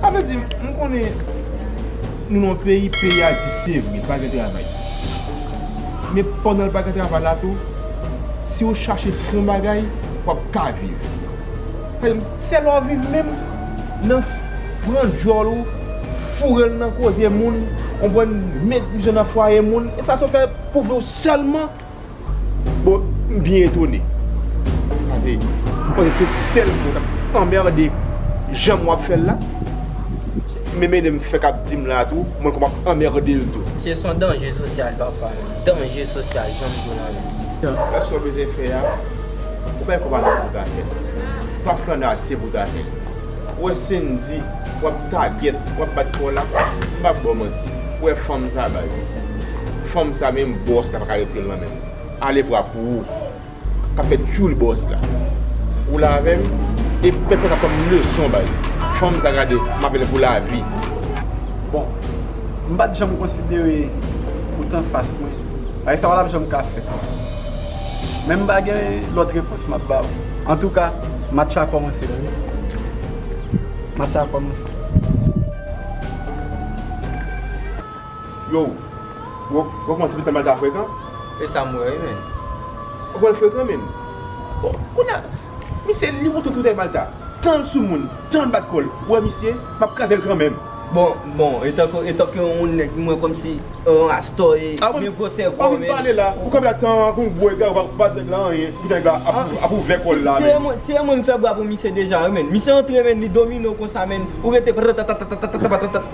Sa vle di m konnen nou nan yon peyi, peyi a di se vre pa gen travay. Men pandan pa gen travay la tou, si ou chache fè yon bagay, w ap ka viv. Se lè w viv menm, nan pran dyòl ou, foure l nan koze moun, konprann, met divizyòn nan fwaye moun, e sa se w fè pou vi w sèlman Bon, m byen etone. Pase, m panse se sèl mwen k ap anmerde jan wap fè l la. Men mennen m fè k ap di m la tou, mwen kòm ap anmerde l tou. Se son danje sosyal papa. Danje sosyal jan m di w la menm. Fè sa w bezwen fè a. Ou bay kòb ase pou w ta fè l. Ou pa flanne ase pou w ta fè l. Ou wè Sendy, w ap tagèt, w ap bat kò w la. M pa p ba w manti. Ou wè fanm sa a baz. Fanm sa menm boss la paka retirel nan menl ale vwa pou ou kap fè tchoul boss la ou la avèm e pèp la kap pranm leson baz fanm sa gade map avèl pou lavi. Bon m pat janm konsidere ou t anfas mwen bagay sa pa tap janm ka fèt men m pa gen lòt repons map ba ou antouka match la kòmanse la wi match la kòmanse. Yow, bro, ou pa kouman ti pitit la manda frekan? E sa m wè wi menn? Ou kwè l frekan menn? Bon, kounye a, misye li wont wont ti pitit la manda. Tan l soumoun, tan l bat kò l. Ou wè misye? M ap kraze l kanmenm. Bon, bon, etanke, etanke yon nèg mwen kòmsi yon astò e gen gwo sèvo menn. Ou pa fin pale la, ou kanpe la tan kou yon gwo egare, ou pa di nèg la anyen, epi nèg la ap ouvè kò l la menn. Se yon moun m fè bwa pou misye deja wi menn. Misye antre menn, li domine w konsa menn, ou rete pratatatatatatatatatatatat.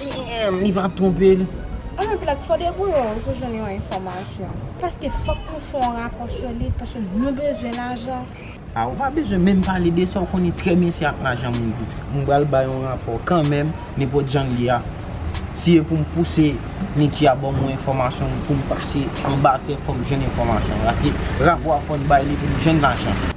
Damn li pa twonpe l. An nou plat fò debouye w pou jwenn yon enfòmasyon. Paske fòk nou fè yon rapò sou li paske nou bezwen lajan. A ou pa bezwen menm pale de sa ou konnen trè byen se ak lajan moun viv. M pral bay yon rapò kanmenm nenpòt jan l ye a. Si e pou m pouse Niki a ban mwen enfòmasyon pou m pase anba tè pou m jwenn enfòmasyon paske rapò a fò n bay li pou m jwenn lajan.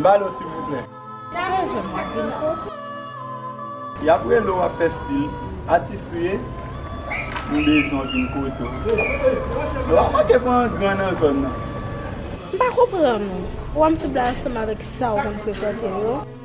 Balo silvouplè. Gade je m ak vin fou. Yap rele w wap fè stil. Atis ou ye? M bezwen w vin kote w. Nou pa manke pran yon gran nan zòn nan. M pa konprann ou. Ou anm sib la ansanm avèk sa ou konn frekante yo.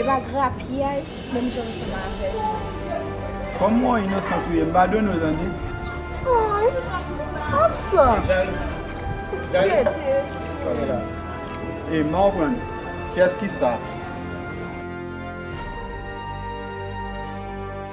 Epa grapyay menm jan ansanm avèm. Kòm ou an inosan touye m padone w tande. Ay ansanm ou trete touye m. Ey ma ou pran kiyès ki sa.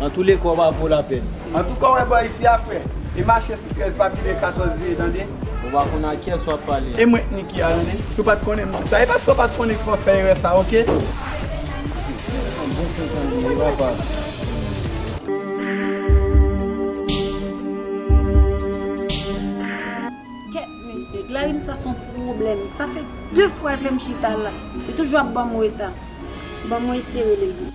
Antouleka ou pa vo lapèn. Antouka ou wè bò isi a frè. E mache sou 13 pa pile 14 vye tande. Ou pa konn a kyès wap pale a. E mwen t Niki a tande. Si w pat konnen m di sa. E paske w pat konnen ki fè w fè erè sa ok. Kèt mesye, Glarim sa son pwoblèm. Sa fè 2 fwa l fè m chita la. Li toujou ap banm reta. Bon mwen eseye rele l.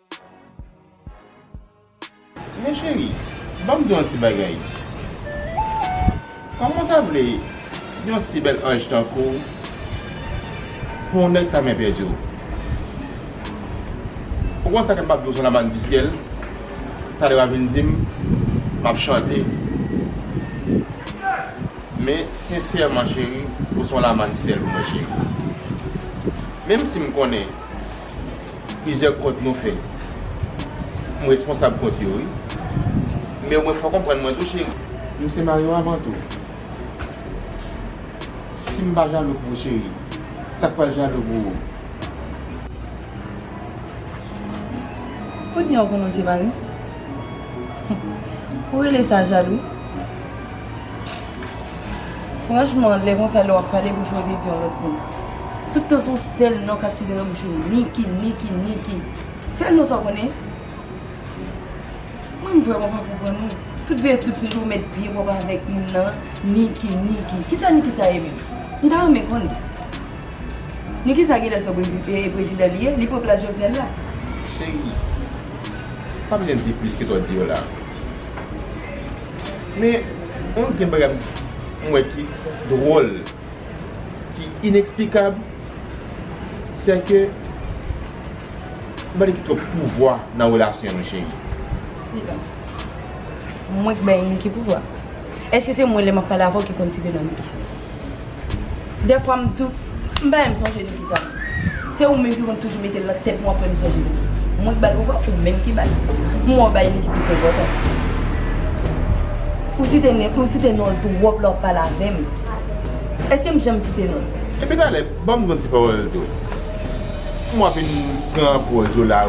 Men cheri, banm di w yon ti bagay. Kòman w ta vle yon si bèl anj tankou w pou yon nèg ta men pèdi w? Ou konn sa ke m pap di w son labann di syèl, talè w ap vin di m m ap chante. Men sensèman cheri, ou son lamann syèl pou mwen cheri. Menm si m konnen. Plizyè kont nou fè m responsab kont yo wi Men mwen fè w konprann mwen tou cheri M se mari w avan tou Si m pa jalou pou ou cheri Sa k pral jalou pou ou? Kounye a w konnen w se mari m Ou rele sa jalou? Franchman lè konsa lè wap pale bouch mwen vle di yon lòt moun. Tout tan son sèl non kap site nan bouch ou Niki Niki Niki sèl non sa ou konnen. Mwen vrèman pa konprann ou. Tout veye tout kote ou met pye wap avèk moun nan Niki Niki. Kisa Niki sa ye menm? M ta renmen konnen. Niki sa genlè se yon prezidan li ye? Li pran plas Jovenel la? Cheri, pa bezwen di plis ke sa ou di yo la. Men, yon gen bagay m wè ki dwòl, ki ineksplikab, sè ke m pa vle gen twòp pouvwa nan relasyon nou cheri. Silans. Mwen k bay niki pouvwa? Èske se mwen lè m ap pale avè w ki konn ti denam ki. Dèfwa m tou, m pa janm sonje li kisa li. Se ou menm ki konn toujou mete l nan tèt mwen apre m sonje li. Mwen k ba l oubyen ou menm ki ba l? M wè w bay li ki plis enpòtans. Ou site nen, ou site non l twòp lè w ap pale avè m. Èske m janm site non l? Epi talè, ban m yon ti pawòl tou. M wè w fin pran pòz ou la,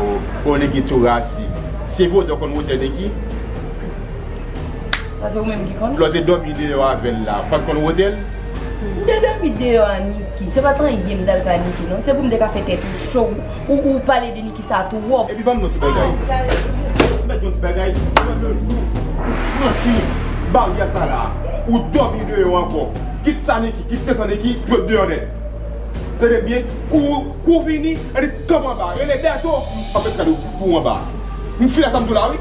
ou Niki tou rasi. Se vouzan w konn wotè Niki? Sa se ou menm ki konn. Lè w te dòmi deyò avè l la, ou pa t konn wote l? M te dòmi deyò a Niki. Se pa t anyen m t al fè a Niki non. Se pou m te ka fè tèt ou cho. Ou pale de Niki sa twòp. Epi ban m yon ti bagay. Mèt yon ti bagay. Pran yon jou. Ou franchi baryè sa la. Ou dòmi deyò ankò. Kit sa Niki, kit se san Niki, dwe p deyò nèt. Tande m byen. Kou ou fini, annik kanpe anba. Rele Bèto. M pa p met kado pou ou anba. M fè sa m di w la wi.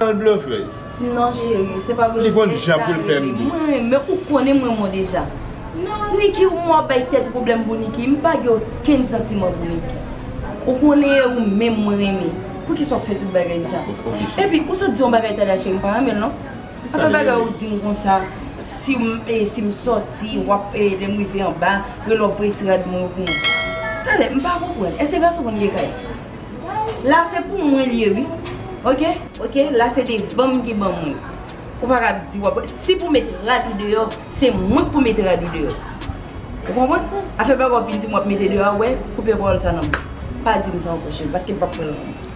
Bèl blofèz. Non cheri se pa blofèz sa. Li konn jan poul fèm dis. Mwen renmen ou konnen mwen mou deja. Niki ou mou ap bay tèt ou pwoblèm pou Niki. M pa gen okenn santiman pou Niki. Ou konnen e ou menm mwen renmen. Poukisa ou fè tout bagay sa. Epi ou sot di yon bagay Tania cheri m pa renmen l non. Afè bagay ou di m konsa si m soti wap lè m rive anba rele w voye ti rad mwen yo pou mwen. Tade m pa konprann. Eske gason konn gen kay? La se pou mwen li ye wi ok. Ok la se devanm ki ban mwen. Ou pa ka di wap. Si pou met rad ou deyò se mwen pou met rad ou deyò. Ou konprann? Afè bagay wap vin di m wap mete deyò a wè koupe pawòl sa nan bouch ou. Pa di m sa ankò cheri paske m pap kwè lan ou.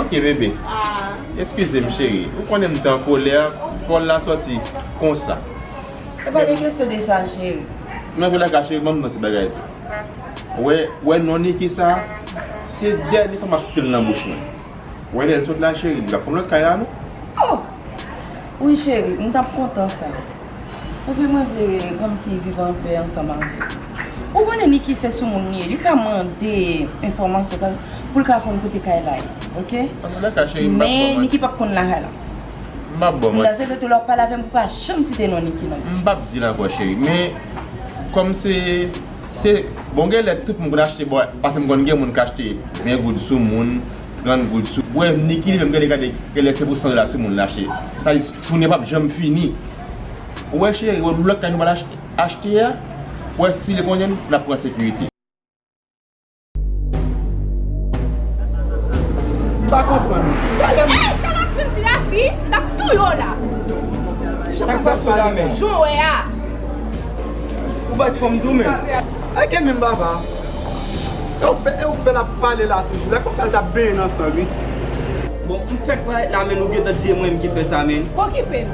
Ok bebe. Eskize m cheri. Ou konnen m te an kolè pawòl la sòti konsa. E pa gen kesyon de sa cheri. Nan vye la ka cheri banm yon ti bagay tou. Wè wè non Niki sa se dènye fwa map stil nan bouch mwen wè lèl sot la cheri li pap konn lòt kay la non. Oh wi cheri m tap kontan sa paske mwen vle kòmsi viv anpè ansanm avèw ou konnen Niki se soumoun li ye li ka mande enfòmasyon sa poul ka konn kote kay la ye ok men Niki pap konn lakay la. M'pap baw manti. Daze rete la wap pale avèm ou pa janm site non Niki nan bouch ou. M'pap dil ankò cheri men kòm se se bon genlè tout moun konn achte bo pase'm konn gen moun k'achte 20 goud sou moun 30 goud sou wè Niki li menm gade gade genlè se pou 100 dola sou moun l'achte sa vle di jounen pap janm fini ou wè cheri wè lòt kay nou pral achte a wè si li konnen nou n'ap pran sekirite. M pa konprann. Gade m. Hey! Sa map fè m ti la fi, m tap touye w la. Sak sa sou la menm? Jan w wè a. Ou bat fanm tou menm? Sa gen menm Vava? E w fè, e w fè l ap pale la toujou la. Konsa l tap benyen nan san l wi. Bon, m fèk parèt la men nou gentan di e mwen menm ki fè sa men. Okipe l.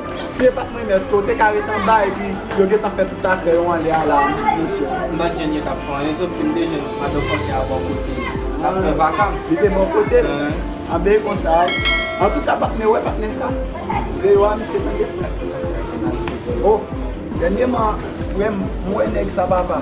Si e pat mwen menm eske ou te ka ret anba epi yo gentan fè tout afè yo anlè a la mesye. M pat jwenn yo tap fè anyen sof ke m te jwenn madan fransè a bò kote m tap fè vaka m. Li te bò kote l? Anben e konsa wi. Antouka patnè ou wè patnè sa? Vle yo a misye tande frè m. Oh dènyeman frè m m wè nèg sa papa.